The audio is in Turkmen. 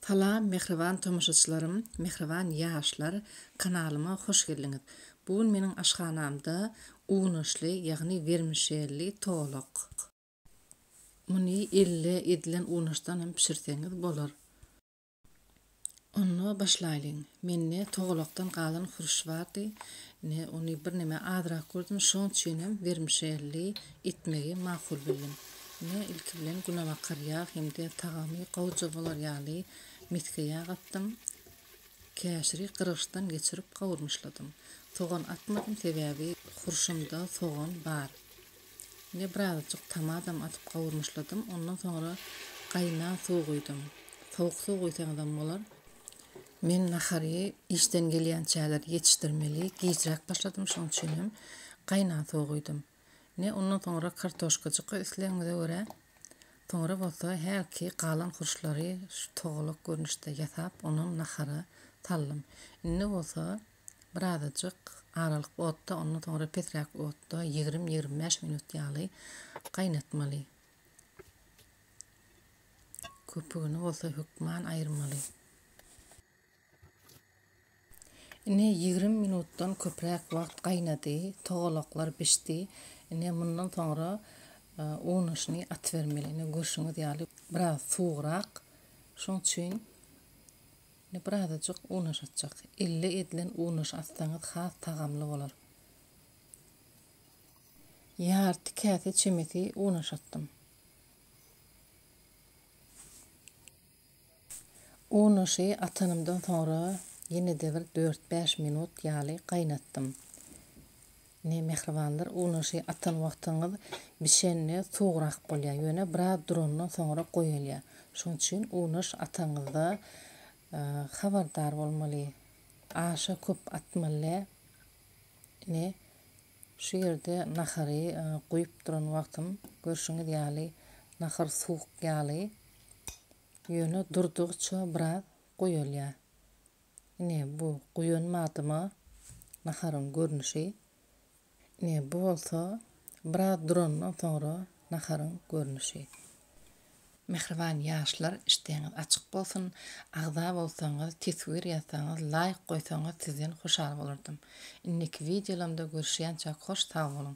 Salam mähriban tomaşaçylarym, mähriban ýaşlar, kanalyma hoş geldiňiz. Bu gün meniň aşhanamda unaşly, ýagny wermişelli towlak. Muny elde edilen unaşdan hem bişirseňiz bolar. Onda başlaýlyň. Mende towlakdan galan hurş bardy. Ine, ony birneme azrak gördüm, şoň üçin hem wermişelli etmegi makul bildim. Ine, ilki bilen günebakar ýag hem-de tagamy gowja bolar ýaly misge ýag atdym. Käşiri gyrgyçdan geçirip gawurmyşladym. Sogan atmadym, sebäbi hurşumda sogan bar. Ine, birazajyk tamadam atyp gawurmyşladym. Ondan soňra gaýnan suw guýdum. Sowuk suw guýsaňyzam bolar. Men nahary işden gelýänçäler ýetişdirmeli, gijräk başladym, şonuň üçinem gaýnan suw guýdum. Ne ondan soňra kartoşkajyka islegiňize görä, soňra bolsa hälki galan hurçlary şu togalak görnüşde ýasap, onam nahara saldym. Indi bolsa birazajyk aralyk otda, ondan soňra pesräk otda ýigrimi-ýigrimi bäş minut ýaly gaýnatmaly. Köpügini bolsa hökman aýyrmaly. Ine, ýigrimi minutdan köpräk wagt gaýnady, togalaklar bişdi. Ine, mundan soňra unaşyny atybermeli. Ine, görşüňiz ýaly, biraz suwugrak. Şoň üçin indi birazajyk unaş atjak. Elle edilen unaş atsaňyz has tagamly bolar. Ýarty käse çemesi unaş atdym. Unaşy atanymdan soňra ýene-de bir dört-bäş minut ýaly gaýnatdym. Ine, mähribanlar, unaşy atan wagtyňyz bişende suwugrak bolýar, ýöne biraz durandan soňra goýalýar. Şonuň üçin unaş atanyňyzda habardar bolmaly, aşa köp atmaly däl. Ine, şu ýerde nahary guýup duran wagtym, görşüňiz ýaly, nahar suwuk ýaly. Ýöne durdygça biraz guýalýar. Ine, bu guýan madyma naharyň görnüşi. Ine, bu bolsa biraz durandan soňra naharyň görnüşi. Mähriban ýaşlar işdeňiz açyk bolsun, agza bolsaňyz, teswir ýazsaňyz, laýk goýsaňyz sizden hoşal bolardym. Indiki wideolamda görüşýänçäk hoş sag boluň.